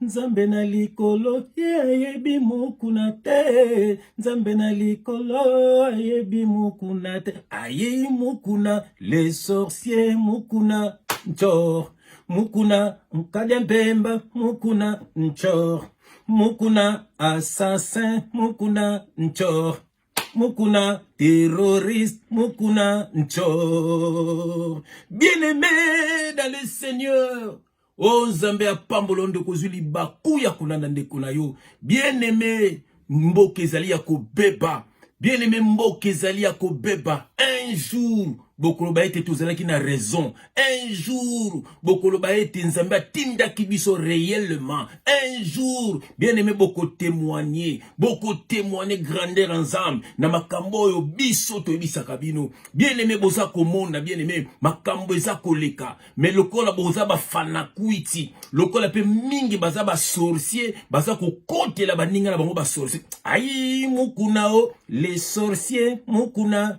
Nzambe na likolo ye ayebi mokuna te, Nzambe na likolo ayebi mokuna te, ayei mokuna le sorcier mokuna ncor mokuna nkade mpemba mokuna ncor mokuna assassin mokuna ncor Mukuna, terroriste, Mukuna, Nchor. Bien-aimé dans le Seigneur. o oh, nzambe ya pambolo ndeko ozwi libaku ya kolanda ndeko na yo bien aimé mboka ezali ya kobeba bien aimé mboka ezali ya kobeba un jour bokoloba ete tozalaki na raison un jour bokoloba ete nzambe atindaki biso réellement un jour bien aimé bokotemoigne bokotemoigne grandeur ya nzambe na makambo oyo biso toyebisaka bino bien aimé boza komona bien aimé makambo eza koleka me lokola boza bafanakwiti lokola mpe mingi baza basorcier baza kokotela baninga na bango basorcier ai mukuna o les sorcier mukuna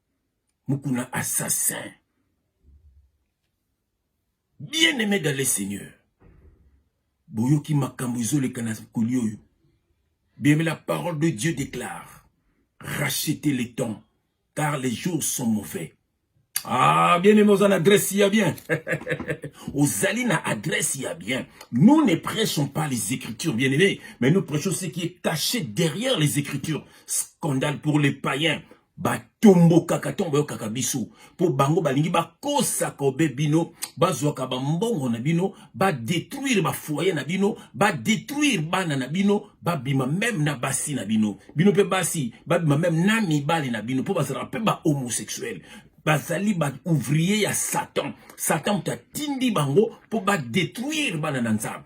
mukuna assassin bien aimé dans le seigneur boyoki makambo ezoleka na koli oyo biyeme la parole de dieu déclare racheter le temps car les jours sont mauvais Ah, bien aimé, aux adresse ya bien. Ozali na adresse ya bien. Nous ne prêchons pas les écritures, bien aimé, mais nous prêchons ce qui est caché derrière les écritures. Scandale pour les païens. batombokaka ntango bayokaka biso mpo bango balingi bakosaka obe bino bazwaka bambongo na bino badetruire bafoye na bino badetruire bana na bino babima meme na basi na bino bino mpe basi babima meme na mibali na bino mpo bazalaka mpe bahomosexuel bazali baouvrier ya satan satan moto atindi bango mpo badetruire bana na nzambe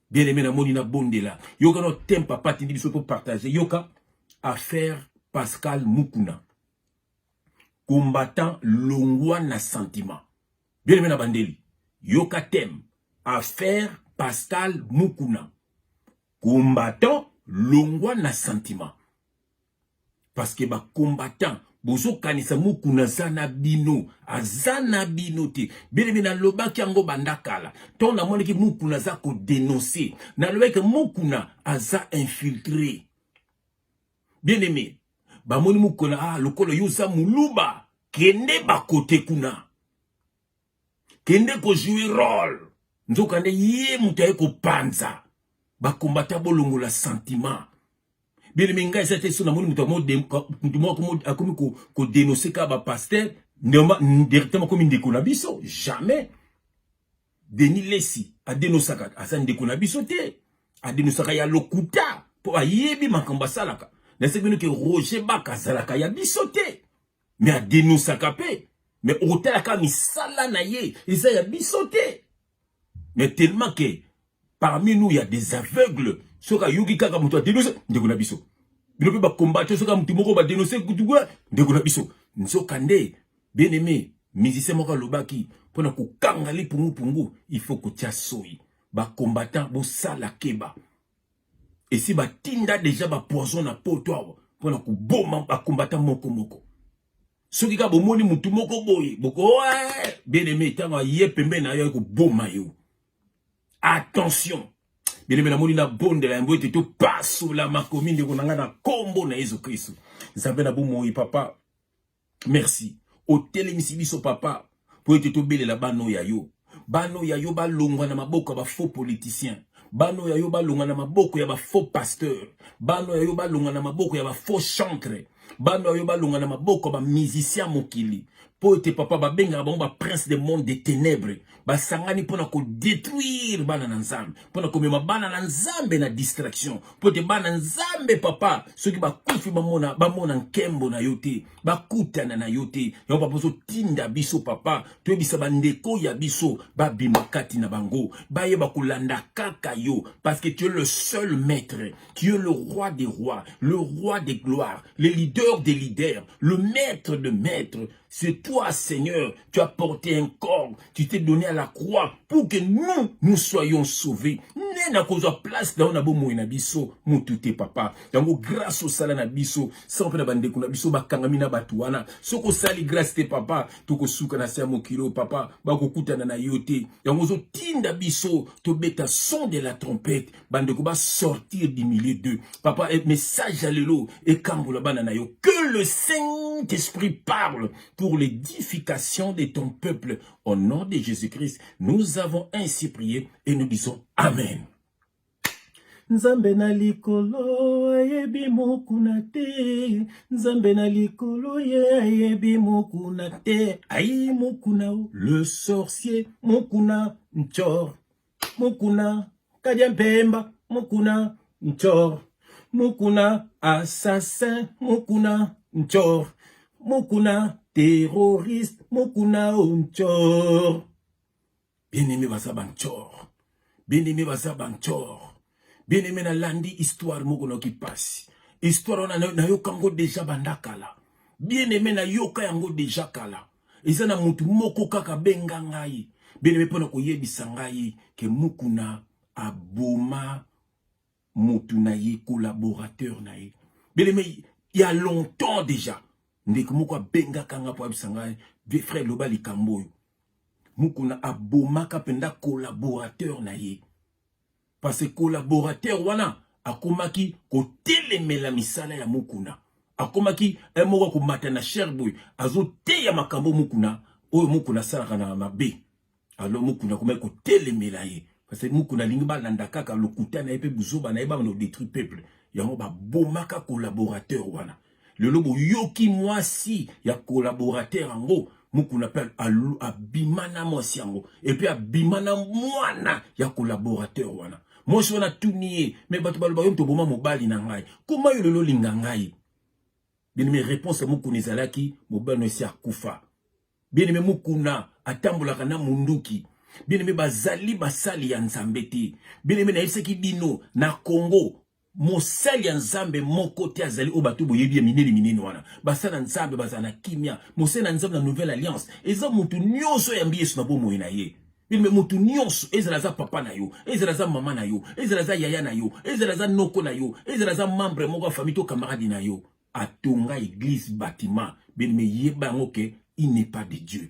Bien aimé na moni na bondela. Yoka no tem papa tindi biso to partager. Yoka affaire Pascal Mukuna. Combattant longwa na sentiment. Bien aimé na bandeli. Yoka tem affaire Pascal Mukuna. Combattant longwa na sentiment. parce que ba combattant bozokanisa mukuna aza na bino aza na bino te belebe nalobaki yango banda kala ntango namonaki mukuna aza kodenonse nalobaki mukuna aza infiltre bien aime bamoni mukuna ah, lokola yo oza muluba kende bakote kuna kende kojoue role nzokande ye moto aye kopanza bakombata bolongola sentiment Beleme ngai eza te so namoni moto moto moko akomi kodenonse kaka bapaster directement akomi ndeko na biso jamais denis lesi adenosaka aza ndeko na biso te adenosaka ya lokuta mpo ayebi makambo asalaka naseki bino ke roger baka azalaka ya biso te me adenosaka mpe me okotalaka misala na ye eza ya biso te mais tellement que parmi nous il y a des aveugles soki ayoki kaka moto adenonse ndeko na biso bino mpe bakombate soki moto moko badenonse kutukua ndeko na biso nzoka nde bien aimé musicien moko alobaki mpo na kokanga lipungupungu il faut kotya soyi bacombattant bosala keba esi batinda deja bapoison na poto awa mpo na koboma bacombattant moko moko soki kaka bomoni mutu moko boye boko eh, bien aimé ntango aye pembeni na yo aye koboma yo attention bien aimé namoni nabondela yango ete topasola makomi ndeko na ngai na nkombo na yesu kristu nzambe na bomoi papa merci otelemisi biso papa mpo ete tobelela bana oyo ya yo bana oyo ya yo balongwa na maboko ya bafaux politicien bana oyo ya yo balongwa na maboko ya bafaux pasteur bana oyo ya yo balongwa na maboko ya bafaux chantre bana oyo balonga na maboko ya bamusicien ya mokili mpo ete papa babengaka bango baprince de monde de ténèbre basangani mpo na kodétruire bana na nzambe mpo na komema bana na nzambe na distraction mpo ete bana nzambe papa soki bakufi bamona bamona nkembo na yo te bakutana na yo te yango papa ozotinda biso papa toyebisa bandeko ya biso babima kati na bango bayeba kolanda kaka yo parce que tu es le seul maître tu es le roi des rois le roi des gloires le leader des leaders le maître de maître c'est toi seigneur tu as porté un corps tu t'es donné à la croix pour que nous nous soyons sauvés ne na kozwa place na yo na bomoi na biso mutu te papa yango grâce osala na biso sango mpe na bandeko na biso bakangami na bato wana soki osali grâce te papa tokosuka na se ya mokili oyo papa bakokutana na yo te yango ozotinda biso tobeta son de la trompette bandeko basortir du milieu d'eux papa message ya lelo ekambola bana na yo que le saint esprit parle pour l'édification de ton peuple. Au nom de Jésus-Christ, nous avons ainsi prié et nous disons Amen. nzambe na likolo ayebi mokuna te nzambe na likolo ye ayebi mokuna te ayi mokuna le sorcier mokuna nchor Mukuna, Kadia Mpemba, Mukuna, Nchor, Mukuna, assassin, Mukuna, Nchor, Mukuna, terroriste, Mukuna, Nchor. Bien-aimé baza ba Nchor. Bien-aimé baza ba Nchor. Bien-aimé nalandi histoire moko noki pasi. Histoire wana nayoka yango deja banda kala. Bien-aimé nayoka yango deja kala. eza na motu moko kaka benga ngai beneme mpo na koyebisa ngai ke mukuna aboma motu na ye collaborateur na ye beneme ya longtemps déjà ndeko moko abengaka ngai mpo ayebisa ngai vie frère loba likambo oyo mukuna abomaka mpenza collaborateur na ye parce que collaborateur wana akomaki kotelemela misala ya mukuna akomaki un moko akomata na cher boye azoteya makambo mukuna oyo mukuna asalaka na mabe alo mukuna akomaki kotelemela ye parce que mukuna alingi balanda kaka lokuta na ye mpe buzoba na ye bamana odetruit peuple yango babomaka collaborateur wana lelo boyoki mwasi ya collaborateur yango mukuna mpe abima na mwasi yango epuis abima na mwana ya collaborateur wana mwasi wana atuni ye me bato baloba yo moto oboma mobali na ngai koma yo lelo olinga ngai bieneme réponse ya mukuna ezalaki mobali no esi akufa bieneme mukuna atambolaka na munduki bieneme bazali basali ya nzambe te bieneme nayebisaki bino na congo Mosali ya Nzambe moko te azali oyo bato boyebi ya minene minene wana. Basali na Nzambe bazala na kimia. Mosali na Nzambe na Nouvelle Alliance eza moto nyonso oyo yambi Yesu na bomoi na ye. Bilme moto nyonso ezala aza papa na yo, ezala aza mama na yo, ezala aza yaya na yo, ezala aza noko na yo, ezala aza membre moko ya famille to camarade na yo. Atonga eglise bâtiment, bilme yeba yango ke il n'est pas de Dieu.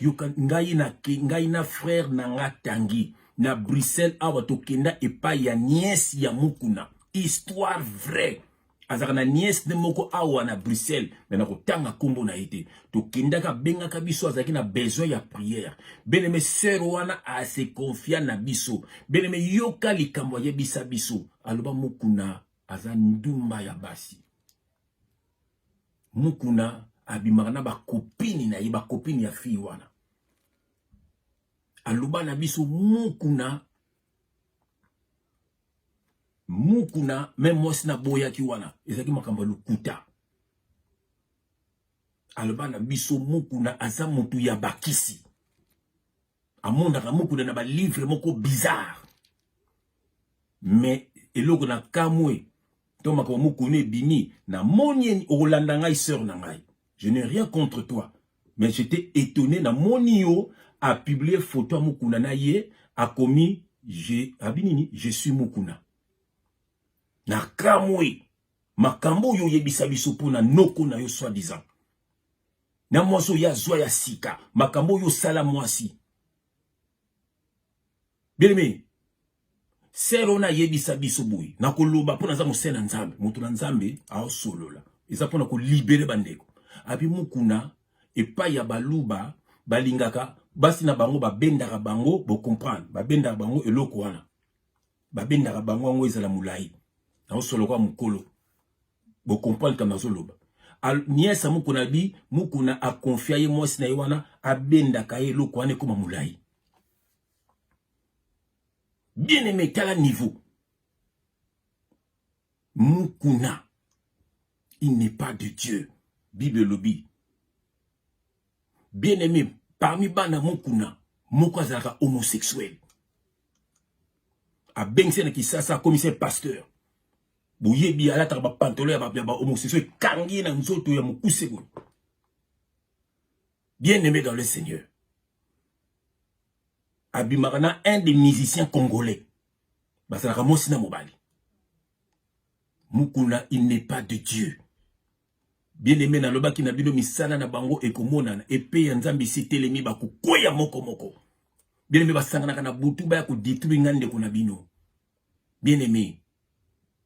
yoka ngai na ke ngai na frère na nga tangi na Bruxelles awa tokenda epai ya nièce ya mukuna histoire vraie azalaka na nièce ne moko awa na bruxelles me nakotanga nkombo na ye te tokendaka abengaka biso azalaki na besoin ya prière beneme sœur wana ase confia na biso beneme yoka likambo ayebisa biso aloba mokuna aza ndumba ya basi Mukuna abimaka na bakopini na ye bakopini ya fille wana aloba na biso mukuna mukuna me mwasi naboyaki wana ezalaki makambo ya lokuta aloba na biso mukuna aza motu ya bakisi amonaka mukuna na ba livre moko bizarre mais eloko na kamwe to makambo mukuna ebimi na moni okolanda ngai sœur na ngai je n'ai rien contre toi mais j'étais étonné na moni yo a publier photo ya mukuna na ye akomi je abi nini je suis mukuna na kamwe makambo oyo oyebisa biso mpo na noko na yo soi disant na mwasi oyo azwa ya sika makambo oyo osala mwasi beleme sere wana ayebisa biso boye na koloba mpo naza mosele ya nzambe moto na nzambe aosolola eza mpo na kolibere bandeko abi mokuna epai ya baluba balingaka basi na bango babendaka bango bocomprendre babendaka bango eloko wana babendaka bango yango ezala molai naosoloka mokolo Bo comprendre kama nazo loba. Nièce Mukuna bi Mukuna a confia ye mwasi na ye wana abendaka ye eloko wana ekoma mulayi. Bien aimé tala niveau. Mukuna il n'est pas de Dieu. Bible elobi. Bien aimé parmi bana Mukuna moko azalaka homosexuel. Abengisi na Kisasa akomisa pasteur. boyebi alataka ba pantolo ya ba ya ba homosexuel ekangi na nzoto ya mukuse boye bien aimé dans le seigneur abimaka na un des musiciens congolais bazalaka mwasi na mobali mukuna il n'est pas de dieu bien aimé nalobaki na bino misala na bango ekomonana epe ya nzambe esitelemi bakokweya moko moko bien aimé basanganaka na butu baya kodetruire nga ndeko na bino bien aimé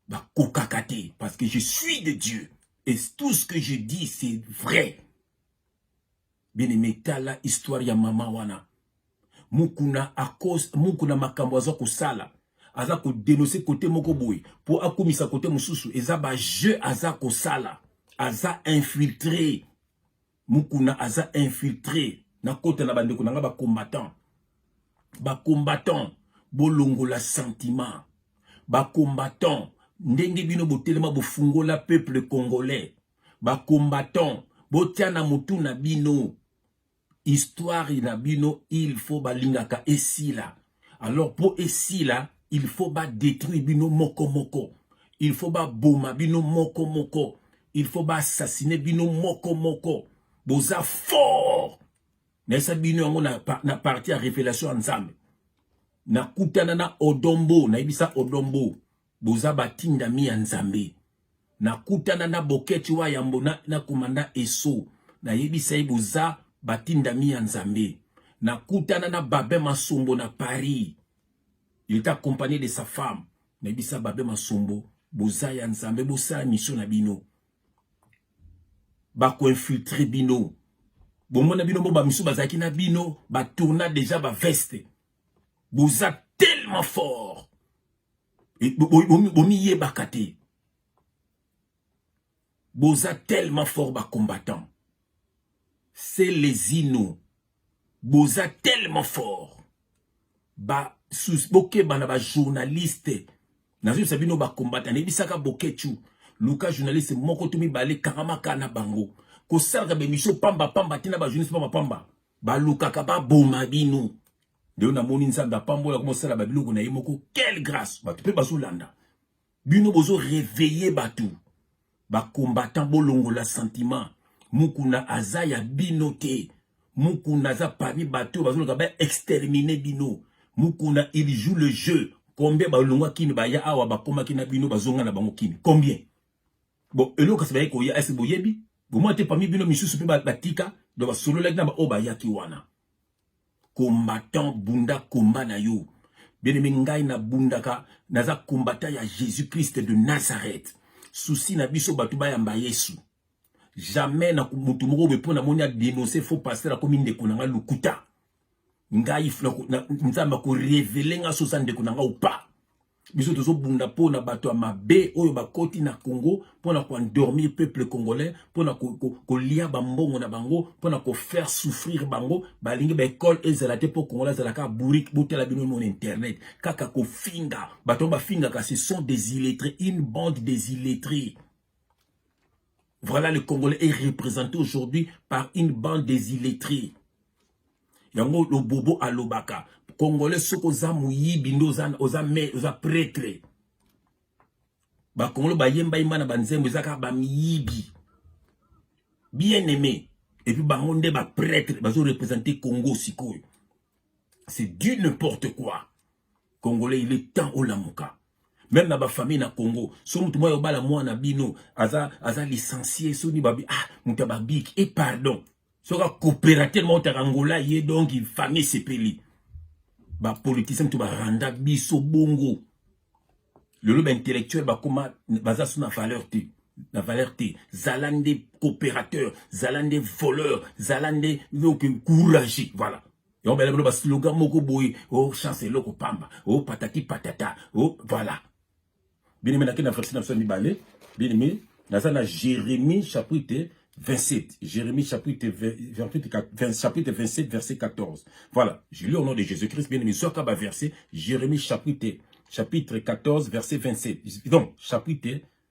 bakokaka te parce que je suis de dieu et tout ce que je dis c'est vrai bien aimé tala histoire ya mama wana mukuna akos mukuna makambo aza kosala aza kodenonse kote moko boye mpo akumisa kote mosusu eza bajeu aza kosala aza infiltre Mukuna aza infiltre na kota na bandeko na nga ba combattant ba combattant bolongola sentiment ba combattant ndenge bino botelema bofungola peuple congolais ba combattant botia na motu na bino histoire na bino il faut balingaka esila alors po esila il faut ba détruire bino moko moko il faut ba boma bino moko moko il faut ba assassiner bino moko moko boza fort nayesa bino yango na, na parti ya révélation ya nzambe nakutana na odombo nayebisa odombo Boza batindami ya Nzambe. Nakutana na Boketch wa yambo na, na komanda Esso. Nayebisa ye boza batindami ya Nzambe. Nakutana na Babin Masombo na Paris. Il est accompagné de sa femme. Nayebisa Babin Masombo boza ya Nzambe bosala mission na bino. Bako infiltrer bino. Bomona bino bo ba misu bazalaki na bino ba tourna déjà ba veste. Boza tellement fort. bomiyebaka te boza tellement fort ba combattant c'est les ino boza tellement fort ba sous bokeba na ba journaliste nazoyebisa bino ba combattant nayebisaka bokechu luka journaliste moko to mibale kangamaka na bango kosalaka bemission pamba pamba te na ba journaliste pamba pamba balukaka baboma bino Lelo namoni Nzambe apambola ko mosala ba biloko na ye moko. Quelle grâce! Bato pe bazo landa. Bino bozo réveiller bato. Ba combattants bolongola sentiment. Mukuna aza ya bino te. Mukuna aza parmi bato bazo loka ba exterminer bino. Mukuna il joue le jeu. Combien ba longwa kini ba ya awa ba komaki na bino bazonga na bango kini. Combien? Bon, eloko kasi baye koya ese boyebi? Bomwa te parmi bino misusu pe batika donc basololaki na ba oyo bayaki wana. combattant bunda combat na yo benemi ngai nabundaka naza combattant ya jésus christ de nazareth susi na biso bato bayamba yesu jamais na moto moko boye mpo namoni adenonse faux pasteur akomi ndeko na ngai lokuta ngai nzambe akorevele ngai soza ndeko na ngai opa biso tozobunda mpo na bato ya mabe oyo bakoti na congo mpo na koendormir peuple congolais mpo na kolia bambongo na bango mpo na kofaire souffrir bango balingi baekole ezala te mpo congolais azalaka bourrique botala bino mona internet kaka kofinga bato yango bafingaka ce sont des illettrés une bande des illettrés Voilà le Congolais est représenté aujourd'hui par une bande des illettrés. Yango le bobo alobaka. Congolais soki oza moyibi nde oza, oza, oza pretre. Bakongolo bayemba yemba na banzembo eza kaka bamiyibi. Bien aimé. Et puis bango nde ba pretre bazo représenter Congo sikoyo. C'est du n'importe quoi. Congolais il est temps olamuka. Même na ba famille na Congo, so mutu moyo bala mwana bino aza aza licencié so ni babi ah mutu ba big et pardon. Soka coopérateur moko ta Angola ye donc famille sepeli. Ba politiciens to ba randa biso bongo. Lelo ba intellectuel ba koma baza suna valeur te. La valeur te zala nde coopérateur zala nde voleur zala nde donc courage voilà yango bela bino baslogan moko boye o oh, chance eloko pamba o oh, patati patata o oh, voilà bino me nake na verse na biso ya mibale bino me naza na jérémie chapitre 27 jérémie chapitre 28 chapitre 27 verset 14 voilà je lis au nom de jésus christ bien aimé zwaka baverset jérémie chapitre chapitre 14 verset 27 donc chapitre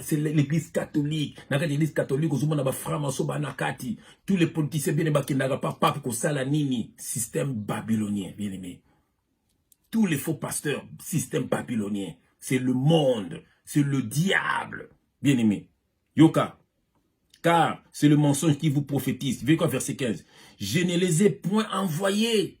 c'est l'église catholique na kati église catholique ozomona ba franc maso bana kati tous les politiciens bien bakendaka pa pape kosala nini système babylonien bien aimé tous les faux pasteurs système babylonien c'est le monde c'est le diable bien aimé yoka car c'est le mensonge qui vous prophétise. Verset 15. Je ne les ai point envoyés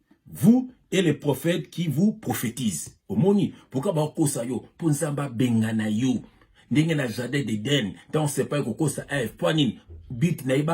vous et les prophètes qui vous prophétisent omoni pourquoi bakokosa yo mpo nzambe abengana yo ndenge na jardin d'eden ntango sepa ekokosa eve mpo nini but na ye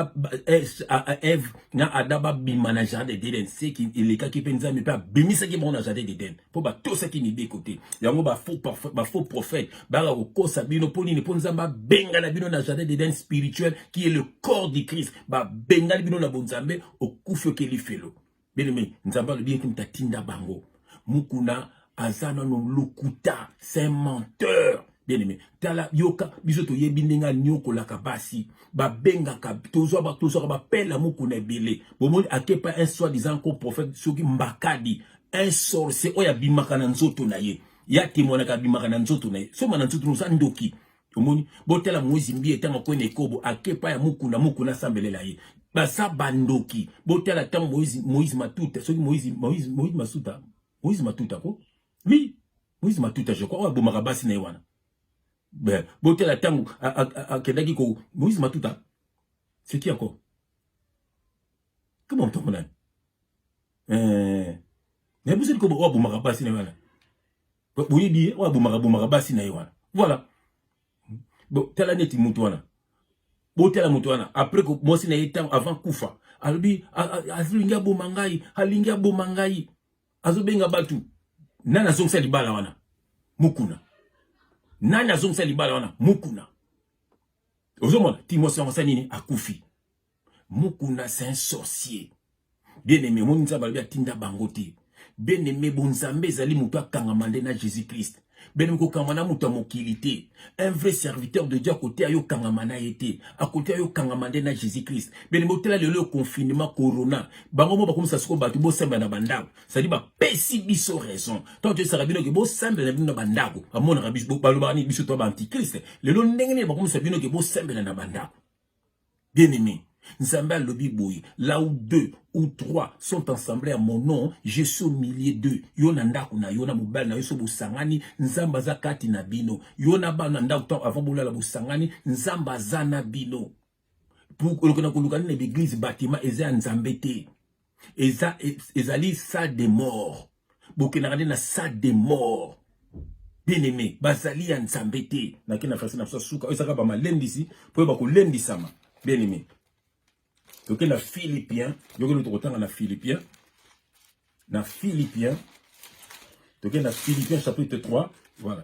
eve na ada babima na jardin d'eden seki elekaki mpe nzambe mpe abimisaki bango na jardin d'eden mpo batosaki mibeko te yango bafaux prophète baka kokosa bino mpo nini mpo nzambe abengana bino na jardin d'eden spirituel qui est le corps du christ babengani bino na bonzambe okufi okeli felo Beleme, Nzambe alobi ete mutatinda bango. Mukuna aza nano lokuta, c'est menteur. bien aimé tala yoka biso toyebi ndenge aniokolaka basi babengaka tozwaka tozwaka bapela moko na ebele bomoni akepa un soit disant ko prophète soki mbakadi un sorcier oyo abimaka na nzoto na ye ya temoinaka abimaka na nzoto na ye soma na nzoto noza ndoki omoni botala moise mbiye ntango akwe na ekobo ake pa ya mukuna mukuna asambelela ye baza bandoki botala ntango moise, moise matuta soki moise, moise, moise masuta moise matuta ko oui moise matuta je crois oyo abomaka basi na ye wana botala ntango akendaki ko moise matuta c'est qui encore koma moto yango nani eh, nayebi soki oyo abomaka basi na ye wana boyebi ye oyo abomaka bomaka basi na ye wana voilà tala neti moto wana botala moto wana après mwasi na ye ntango avant kufa alobi alingi aboma ngai alingi aboma ngai azobenga bato nani azongisa libala wana mukuna nani azongisa libala wana mukuna ozomona timosi yango sa nini akufi Mukuna c'est un sorcier. Bien aimé, mon nzambe alobi atinda bango te. Bien aimé, bon nzambe ezali moto akangama nde na Jésus-Christ. Bien aimé, kokangama na moto ya mokili te. Un vrai serviteur de Dieu akoteya yo kangama na ye te. Akoteya yo kangama nde na Jésus-Christ. Bien aimé, otela lelo yo confinement corona. Bango mo bakomisa siko bato bosamba na bandako. C'est-à-dire bapesi biso raison. Tant que esaka bino ke bosamba na bino na bandako. Amonaka biso balobani biso to ba antichrist. Lelo ndenge nini bakomisa bino ke bosamba na bandako. Bien aimé, Nzambe alobi boye, là où deux ou trois sont ensemble à mon nom, je suis au milieu d'eux. Yo na ndako na yo na mobali na yo so bosangani, Nzambe aza kati na bino. Yo na bana ndako tant avant bolala bosangani, Nzambe aza na bino. Pour que na koluka na l'église bâtiment eza ya Nzambe te. eza ezali salle de mort bokendaka nde na salle de mort bien aimé bazali ya nzambe te nake na fasi na biso suka oyo ezaka bamalendisi mpo oyo bakolendisama bien aimé toke na philippien yokende tokotanga na philippien na philippien toke na philippien chapitre 3 voilà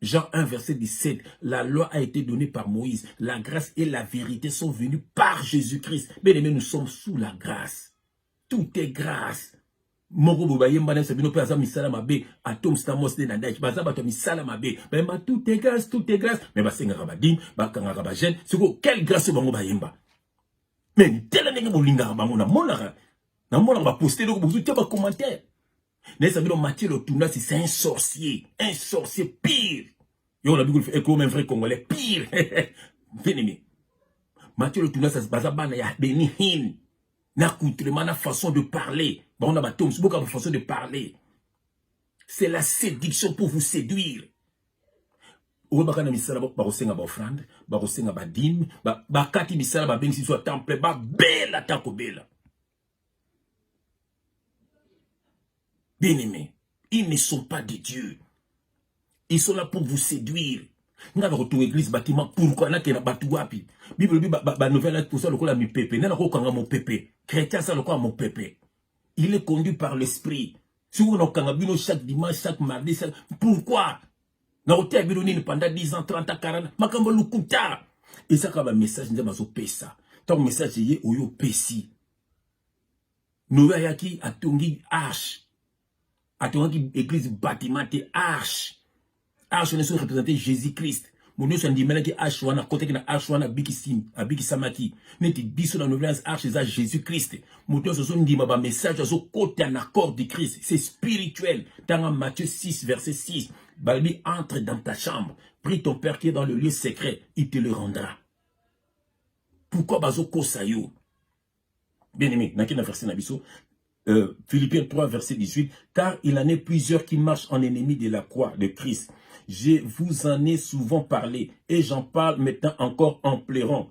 Jean 1, verset 17, la loi a été donnée par Moïse. La grâce et la vérité sont venues par Jésus-Christ. Bien aimé, nous sommes sous la grâce. Tout est grâce. moko boye bayemba na biso bino mpe aza misala mabe atom stamos nde na daki baza bato ya misala mabe bayemba tout est grâce tout est grâce mais basengaka badine bakangaka bajeune sikoyo quelle grâce oyo bango bayemba mais tela ndenge bolingaka bango namonaka namonaka baposte eloko bozotia bacommentaire nayesa bino matie lotunasi c'est un sorcier un sorcier pire yo na bikulu eko même vrai congolais pire venemi matie lotunasi baza bana ya beni hin na coutrement na façon de parler bango na bato mosusu boka façon de parler c'est la séduction pour vous séduire oyebaka na misala bakosenga baofrande bakosenga badime bakati misala babengisi biso ya temple babela ata kobela Bien aimé, ils ne sont pas de Dieu. Ils sont là pour vous séduire. nga nakotonga église batima pourkui nakenda bato wapi bible lobi banouvelle toza lokola mipepe nde nakokanga mopepe chrétien aza lokola mopepe il est conduit par l'esprit soki nakokanga bino chaque dimanche chaque mardi pourquoi na koteya bino nini pendant 10 ans 30 ans 40 makambo lokuta eza kaka bamessage nde bazopesa ntango message eye oyo opesi noyo ayaki atongi arche atongaki eglise batiment te arche arche wana ezo represente jésus christ moto nyonso andimelaki arche wana akotaki na arche wana abikisamaki neti biso na novelance arche eza jésus christ moto nyonso azondima bamessage azokota na corps du christ c'est spirituel ntanga matthieu 6 verset 6 balobi entre dans ta chambre prie ton père qui est dans le lieu secret il te le rendra pourquoi bazokosa yo bien aimé naki na verset na biso euh, philippiens 3 verset 18 car il en est plusieurs qui marchent en ennemi de la croix de christ je vous en ai souvent parlé et j'en parle maintenant encore en pleurant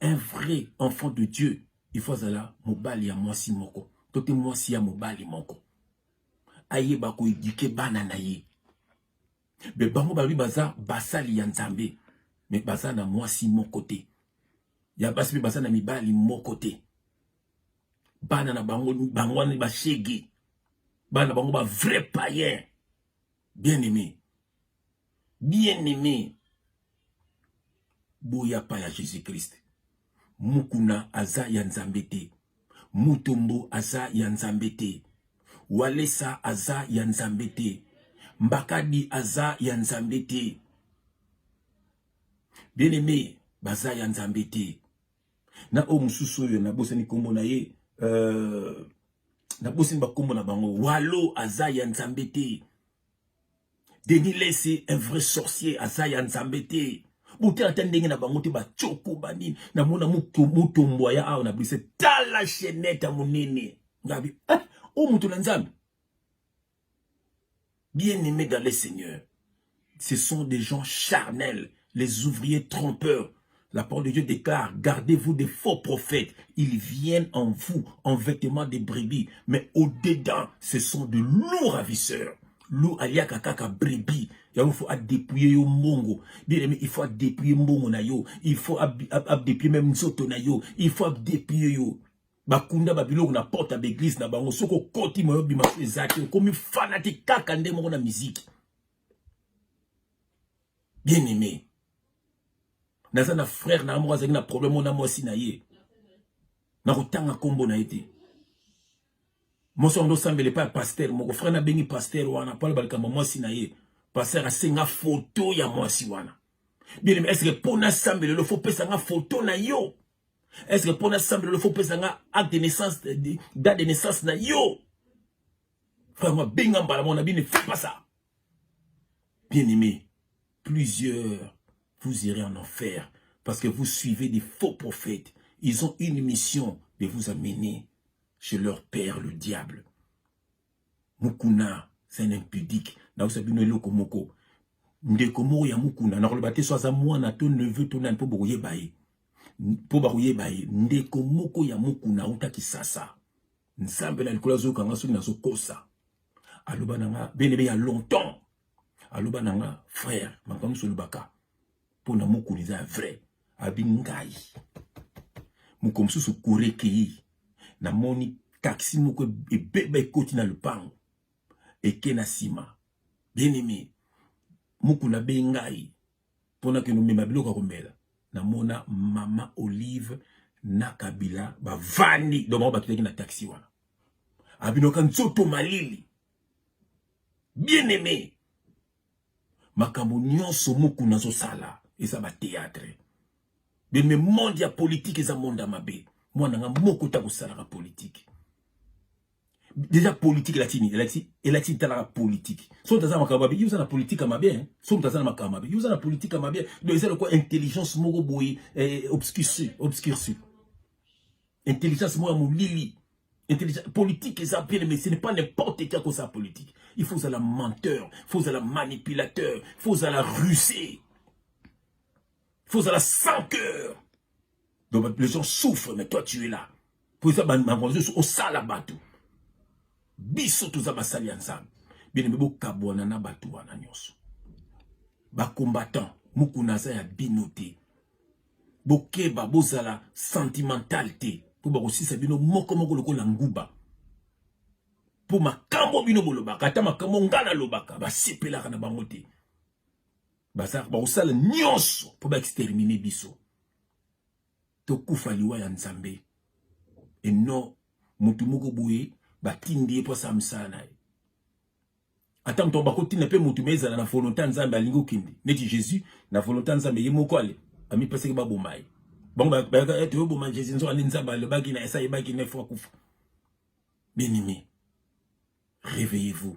un vrai enfant de dieu il faut azala mobali ya mwasi moko to te mwasi ya mobali moko ayeba koedike bana na ye me bango balobi baza basali ya nzambe me baza na mwasi moko te ya basi mpe baza na mibali moko te bana na bango bango wana bashege bana na bango ba vrai payen bien aimé bien aime boya pa ya jesus christ mukuna aza ya nzambe te mutombo aza ya nzambe te walesa aza ya nzambe te mbakadi aza ya nzambe te bien aime baza ya nzambe te na oyo mosusu oyo nabosani nkombo na ye euh, nabosani bakombo na bango walo aza ya nzambe te Denis Lessi un vrai sorcier aza ya Nzambe te botala ata ndenge na bango te bacoko banini namona mutombwa ya awa na brise tala chenete ya monene ngabi eh, oyo moto na Nzambe bien aimé dans le Seigneur ce sont des gens charnels les ouvriers trompeurs La parole de Dieu déclare, gardez-vous des faux prophètes. Ils viennent en vous, en vêtements de brebis, mais au-dedans, ce sont de lourds ravisseurs. Lou aliaka kaka brebis. Il faut dépouiller yo mongo. Bien aimé, il faut dépouiller mongo na yo. Il faut dépouiller même nzoto na yo. Il faut dépouiller yo. bakunda babiloko na porte ya baeglise na bango soki okoti moyo bima so eza te okomi fanati kaka nde moko na miziki bien aimé naza na frère na moko azalaki na problème ona mwasi na ye nakotanga nkombo na ye te mwasi wango ndosambela epai ya pasteur moko frère nabengi pasteur wana mpo aloba likambo mwasi na ye pasteur asenga foto ya mwasi wana bien est ce que mpo nasambela lelo fo pesa nga foto na yo est ce que mpo nasambela lelo fo pesa nga acte de naissance date de naissance na yo frère mabenga mbala mona bine fo pasa bien aimé plusieurs vous irez en enfer parce que vous suivez des faux prophètes ils ont une mission de vous amener chez leur père le diable mukuna c'est un impudique naosa bino eloko moko ndeko moko ya mukuna nakoloba te so aza mwana to neveu to nani mpo bokoyeba ye mpo bakoyeba ye ndeko moko ya mukuna auta kisasa nzambe na likolo azoyoka nga soki nazokosa aloba na nga benebe ya longtemps aloba na nga frère makambo nyonso olobaka mpo na mokolo eza ya vrai abi ngai mokolo mosusu kure ekei namoni taxi moko ebeba ekoti na lopango eke na nsima bien aimé mokuna be ngai mpo nakende omema biloko ya komela namona mama olive na kabila bavandi donc bango batutaki na taxi wana abinoka nzoto malili bien aimé makambo nyonso moku nazosala eza bateatre beme monde ya politike eza monde ya mabe mwana nga moko ta kosalaka politike deja politique elakisi nini elakisi elakisi ntalaka politique so moto aza na makambo mabe yo oza na politique ya mabe so moto aza na makambo mabe yo oza na politique ya mabe do eza lokola intelligence moko boye eh, obscurci obscurci intelligence moko ya molili intelligence politique eza bien mais ce n'est pas n'importe qui akosa politique il faut ozala menteur il faut ozala manipulateur il faut ozala rusé il faut ozala sans cœur Donc les gens souffrent mais toi tu es là. Pour ça bango zo au sala bato. Biso toza basali ya Nzambe. Bien mais bokabwana na bato wana nyonso. Ba combattants mukuna za ya bino te. Bokeba bozala sentimental te. Po bakosisa bino moko moko lokola nguba. Po makambo bino bolobaka ata makambo ngana lobaka basepelaka na bango te. bazalaka bakosala nyonso mpo baextermine biso tokufa liwa ya nzambe eno motu moko boye batindi ye mpo asala mosala na ye ata moto bakotinda mpe motu me ezala na volonté ya nzambe alingi okende neti jésus na volonté ya nzambe ye moko ale amipesaki baboma ye bango bayaka ete oyoboma jésus nzoka nde nzambe alobaki na esa yebaki na efo akufa bien aimé réveillez-vous